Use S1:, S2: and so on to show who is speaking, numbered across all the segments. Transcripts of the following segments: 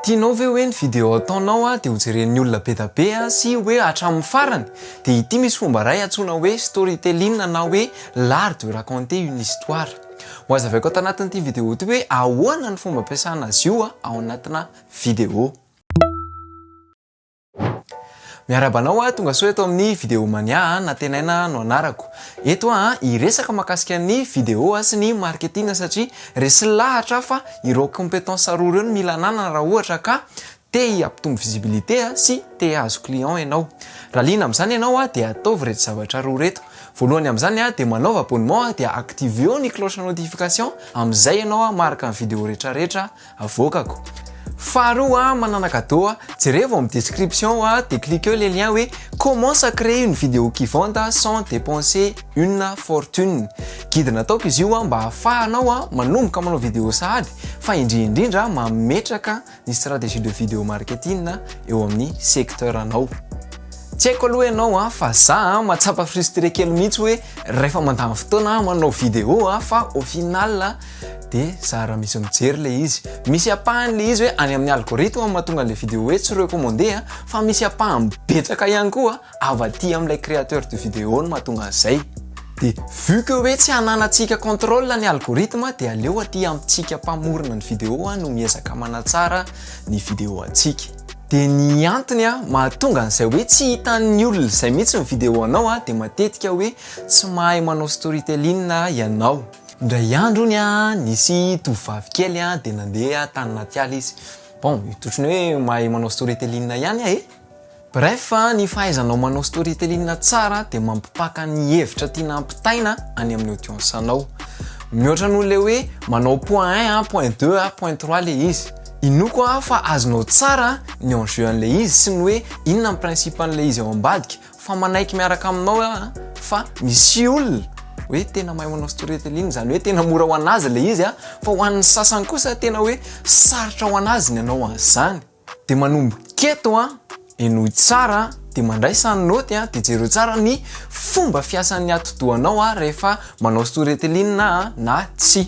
S1: Tianao ve hoe ny video ataonao dia ho jeren'ny olona be da be sy hoe hatramin'ny farany? Dia ity misy fomba iray antsoina hoe storytelling na hoe l'art de raconter une histoire. Ho azavaiko ato anatin'ity video ity hoe ahoana ny fomba ampiasana azy io ao anatina video. Miarahaba anao a, tonga soa eto amin'ny Video Mania a, Natenaina no anarako. Eto aho a, hiresaka mahakasika ny video sy ny marketing satria resy lahatra aho fa ireo compétences roa ireo no mila ananana raha ohatra ka te hampitombo visibilité sy te hahazo client ianao. Raha liana amin'izany ianao a, dia ataovy ireto zavatra roa ireto. Voalohany amin'izany a, dia manaova abonnement dia activeo ny cloche notification, amin'izay ianao a maharaka ny video rehetra rehetra avoakako. Faharoa a, manana cadeau a, jerevo amin'ny description ao a, dia cliqueo ilay lien hoe commence à créer une vidéo qui vende sans dépenser une fortune. Guide nataoko izy io a, mba hahafahanao a, manomboka manao vidéo sahady, fa indrindra indrindra a, mametraka ny stratégie de vidéo marketing eo amin'ny secteur anao. Tsy haiko aloha ianao a, fa za a, mahatsapa frustré kely mihitsy hoe rehefa mandany fotoana aho manao vidéo a, fa au final a, de za raha misy mijery le izy misy apahany le izy hoe any amin'ny algorithme mahatonga le vidéo hoe tsy recommandé a fa misy apahany betsaka ihany koa avy aty amin'ilay créateur de vidéo no mahatonga an'izay de vu que hoe tsy ananantsika contrôle ny algorithme de aleo aty amintsika mpamorona ny vidéo a no miezaka manatsara ny vidéo antsika de ny antony a mahatonga an'izay hoe tsy hitan'ny olona izay mihitsy ny vidéo anao a de matetika hoe tsy mahay manao storytelling ianao Indray andro ony nisy tovovavy kely dia nandeha tany anaty ala izy. Bon, otrany hoe mahay manao storytelling ihany aho e! Bref, ny fahaizanao manao storytelling tsara dia mampipaka ny hevitra tiana hampitaina any amin'ny audience-nao. Mihoatra noho ilay hoe manao point un a, point deux a, point trois ilay izy. Inoako aho fa azonao tsara ny enjeu an'ilay izy sy ny hoe inona ny principe an'ilay izy ao ambadika. fa manaiky miaraka aminao ah fa misy olona hoe tena mahay manao storytelling izany hoe tena mora ho anazy ilay izy ah fa ho an'ny sasany kosa tena hoe sarotra ho anazy ny anao an'izany de manombo keto ah enoy tsara de mandray sany noty ah de jereo tsara ny fomba fiasan'ny atidohanao ah rehefa manao storytelling ah na tsy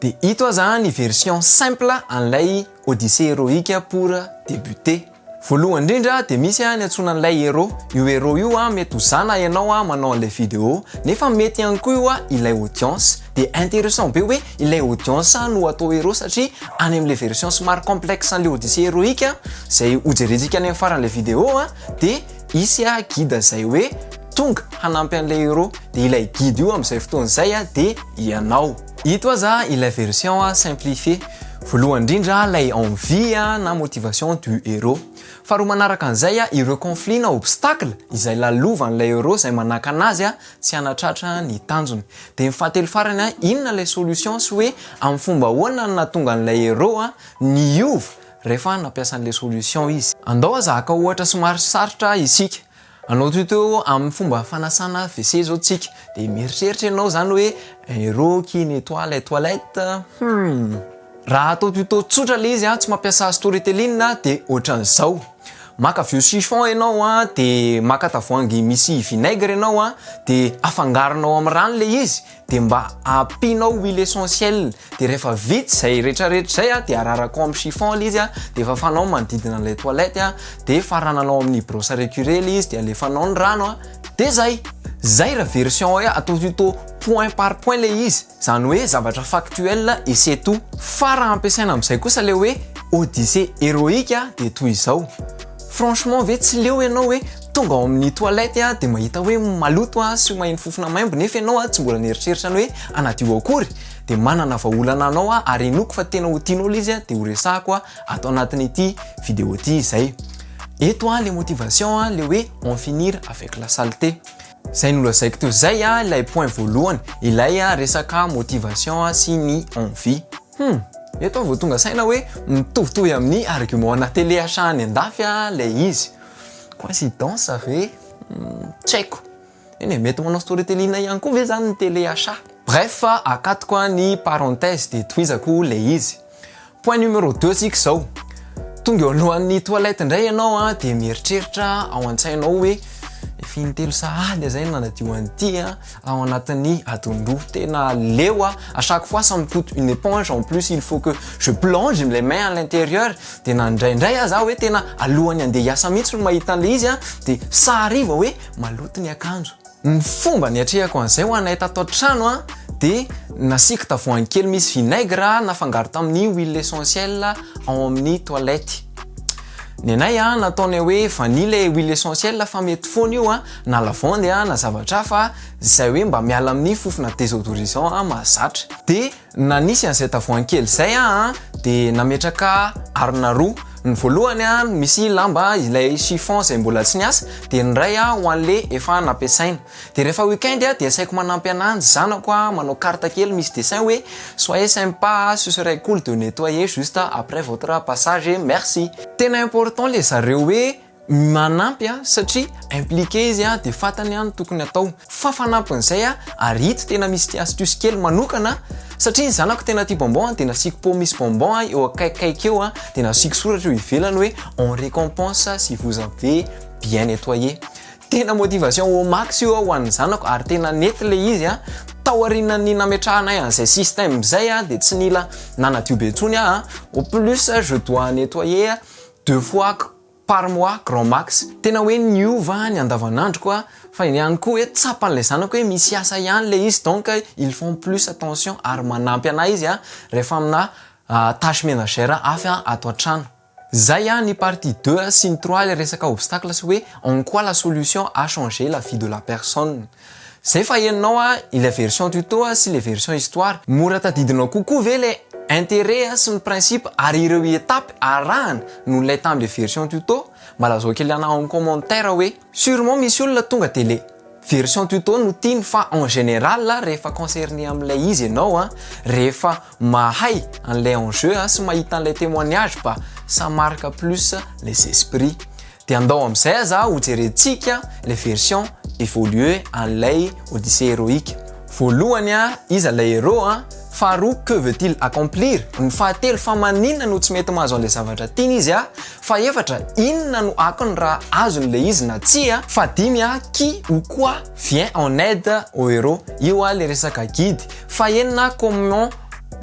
S1: De ito aza ny version simple an'ilay Odyssée héroïque pour débuter. Voalohany indrindra dia misy ny antsoina an'ilay héros, io héros io mety ho za na ianao manao an'ilay vidéo nefa mety ihany koa io ilay audience, dia intéressant be hoe ilay audience no atao héros satria any amin'ilay version somary complexe an'ilay Odyssée héroïque izay hojerentsika any amin'ny faran'ilay vidéo dia hisy guide izay hoe tonga hanampy an'ilay héros, dia ilay guide io amin'izay fotoana izay dia ianao. Ito aza ilay version simplifiée, voalohany indrindra ilay envie na motivation du héros. Faharoa manaraka an'izay ireo conflits na obstacles izay lalovan'ilay héros izay manakana azy tsy hanatratra ny tanjony. Dia ny fahatelo farany inona ilay solution sy hoe amin'ny fomba ahoana no nahatonga an'ilay héros niova rehefa nampiasa an'ilay solution izy. Andao aza haka ohatra somary sarotra isika. Anao toy teo amin'ny fomba fanasana WC izao tsika dia mieritreritra ianao izany hoe aero qui nettoie les toilettes? Humm. Raha atao tuto tsotra ilay izy tsy mampiasa storytelling dia ohatran'izao, maka vieux chiffon ianao dia maka tavoahangy misy vinaigre ianao dia afangaronao amin'ny rano ilay izy, de mba ampianao huile essentiel de rehefa vita izay retraretra izay a de araraka ao amin'ny chiffon ilay izy a de fafanao ny manodidina ilay toilette a de farananao amin'ny brosse à récurer ilay izy de alefanao ny rano a de zay zay raha version hoe atao tuto point par point ilay izy izany hoe zavatra factuel et c'est tout fa raha ampiasaina amin'izay kosa ilay hoe odyssée héroïque a de toy izao franchement ve tsy leo ianao hoe Tonga ao amin'ny toilette a dia mahita hoe maloto a sy maheno fofona maimbo nefa ianao a tsy mbola nieritreritra ny hoe hanadio akory dia manana vahaolana anao a ary henoiko fa tena ho tianao ilay izy a dia ho resahako a ato anatin'ity video ity izay. Eto a le motivation a le hoe en finir avec la saleté. Izay nolazaiko teo izay a ilay point voalohany ilay resaka motivation sy ny envie. Hum! Eto aho vao tonga saina hoe mitovitovy amin'ny argument ana télé achat any andafy a ilay izy. Coïncidence ve? Tsy haiko. Eny e, mety manao storytelling ihany koa ve zany ny télé achat? Bref, akatoko a ny parenthèse dia tohizako ilay izy. Point numéro deux tsika izao. Tonga eo alohan'ny toilette indray ianao a dia mieritreritra ao an-tsainao hoe efa intelo sahady aho izay no nanadio an'ity a, ao anatin'ny adin-droa tena leo a à chaque fois ça me coûte une éponge en plus il faut que je plonge les mains à l'intérieur dia na indraindray aza hoe tena alohan'ny andeha hiasa mihitsy no mahita an'ilay izy a dia sary vao hoe maloto ny akanjo ny fomba niatrehako an'izay ho anay tato an-trano a dia nasiako tavoahangy kely misy vinaigre nafangaro tamin'ny huile essentielle ao amin'ny toilette ny anay a nataonay hoe vanille ilay huile essentielle fa mety foana io a na lavande a, na zavatra hafa izay hoe mba miala amin'ny fofona désodorisant a mahazatra. De na nisy an'izay tavoahangy kely izay a de nametraka arina roa, ny voalohany a misy lamba ilay chiffon izay mbola tsy niasa, de ny iray a ho an'le efa nampiasaina. De rehefa week-end a de asaiko manampy ananjy zanako a manao carte kely misy dessin hoe soyez sympa a, ce serait cool de nettoyer juste après votre passage et merci. Tena important le zareo hoe manampy a, satria impliqué izy a, de fatany a ny tokony atao, fa fanampin'izay a, ary ito tena misy ity astuce kely manokana, satria ny zanako tena tia bonbon a, de nasiako pot misy bonbon a eo akaikikaiky eo a, de nasiako soratra eo ivelany hoe on récompense si vous avez bien nettoyé, tena motivation au max io a ho an'ny zanako, ary tena nety le izy a, taorianan'ny nametrahanay an'izay système zay a, de tsy nila nanadio be intsony aho a, au plus je dois nettoyer Deux fois par mois grand max, tena hoe niova ny andavanandroko a, fa ihany koa hoe tsapan'ilay zanako hoe misy asa ihany ilay izy donc ils font plus attention ary manampy anah izy a rehefa amina tâche menagère hafa ato an-trano. Zay a ny partie deux sy ny trois ilay resaka obstacle sy hoe en quoi la solution a changé la vie de la personne. Zay fa henonao a ilay version tuto a sy le version histoire, mora tadidinao kokoa ve le interet a sy ny principe ary ireo etapes arahana noho ilay tam le version tuto? Mba lazao kely ana en commentaire hoe surement misy olona tonga de le version tuto no tiany fa en general rehefa concerner amin'ilay izy enao a rehefa Mahay an'ilay enjeu a sy mahita an'ilay témoignage ba ça marque plus les esprits. Dia andao amin'izay aza hojerentsika ilay version évoluée an'ilay Odyssée héroïque. Voalohany a, iza ilay héros a? Faharoa, que veut-il accomplir? Ny fahatelo, fa maninona no tsy mety mahazo an'ilay zavatra tiany izy a? Fahefatra, inona no akony raha azony ilay izy na tsia? Fahadimy a, qui ou quoi vient en aide au héros? Io a ilay resaka guide. Fahenina commun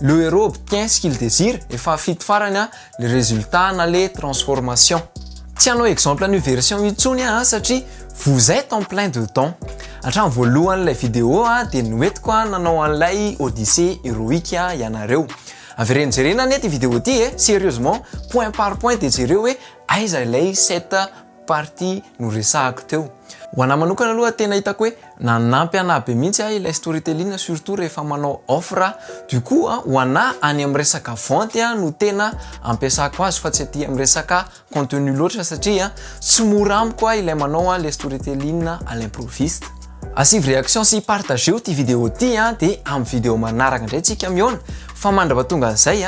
S1: le heros obtient ce qu'il désire et fahafito farany le résultat na le transformation. Tsy hanao exemple an'io version io intsony aho satria vous êtes en plein dedans. Hatramin'ny voalohan'ilay vidéo dia noentiko nanao an'ilay odyssée héroïque ianareo. Avereno jerena anie ity vidéo ity e, sérieusement, point par point dia jereo hoe aiza ilay sept party noresahako teo. Ho anah manokana aloha tena hitako hoe nanampy anah be mihitsy ahy ilay storytelling surtout rehefa manao offre aho. Du coup ho anah any amin'ny resaka vente no tena ampiasako azy fa tsy aty amin'ny resaka contenu loatra satria tsy mora amiko ahy ilay manao ilay storytelling à l'improviste. Asivo réaction sy partageo ity vidéo ity dia amin'ny vidéo manaraka indray tsika mihaona fa mandrapatonga an'izay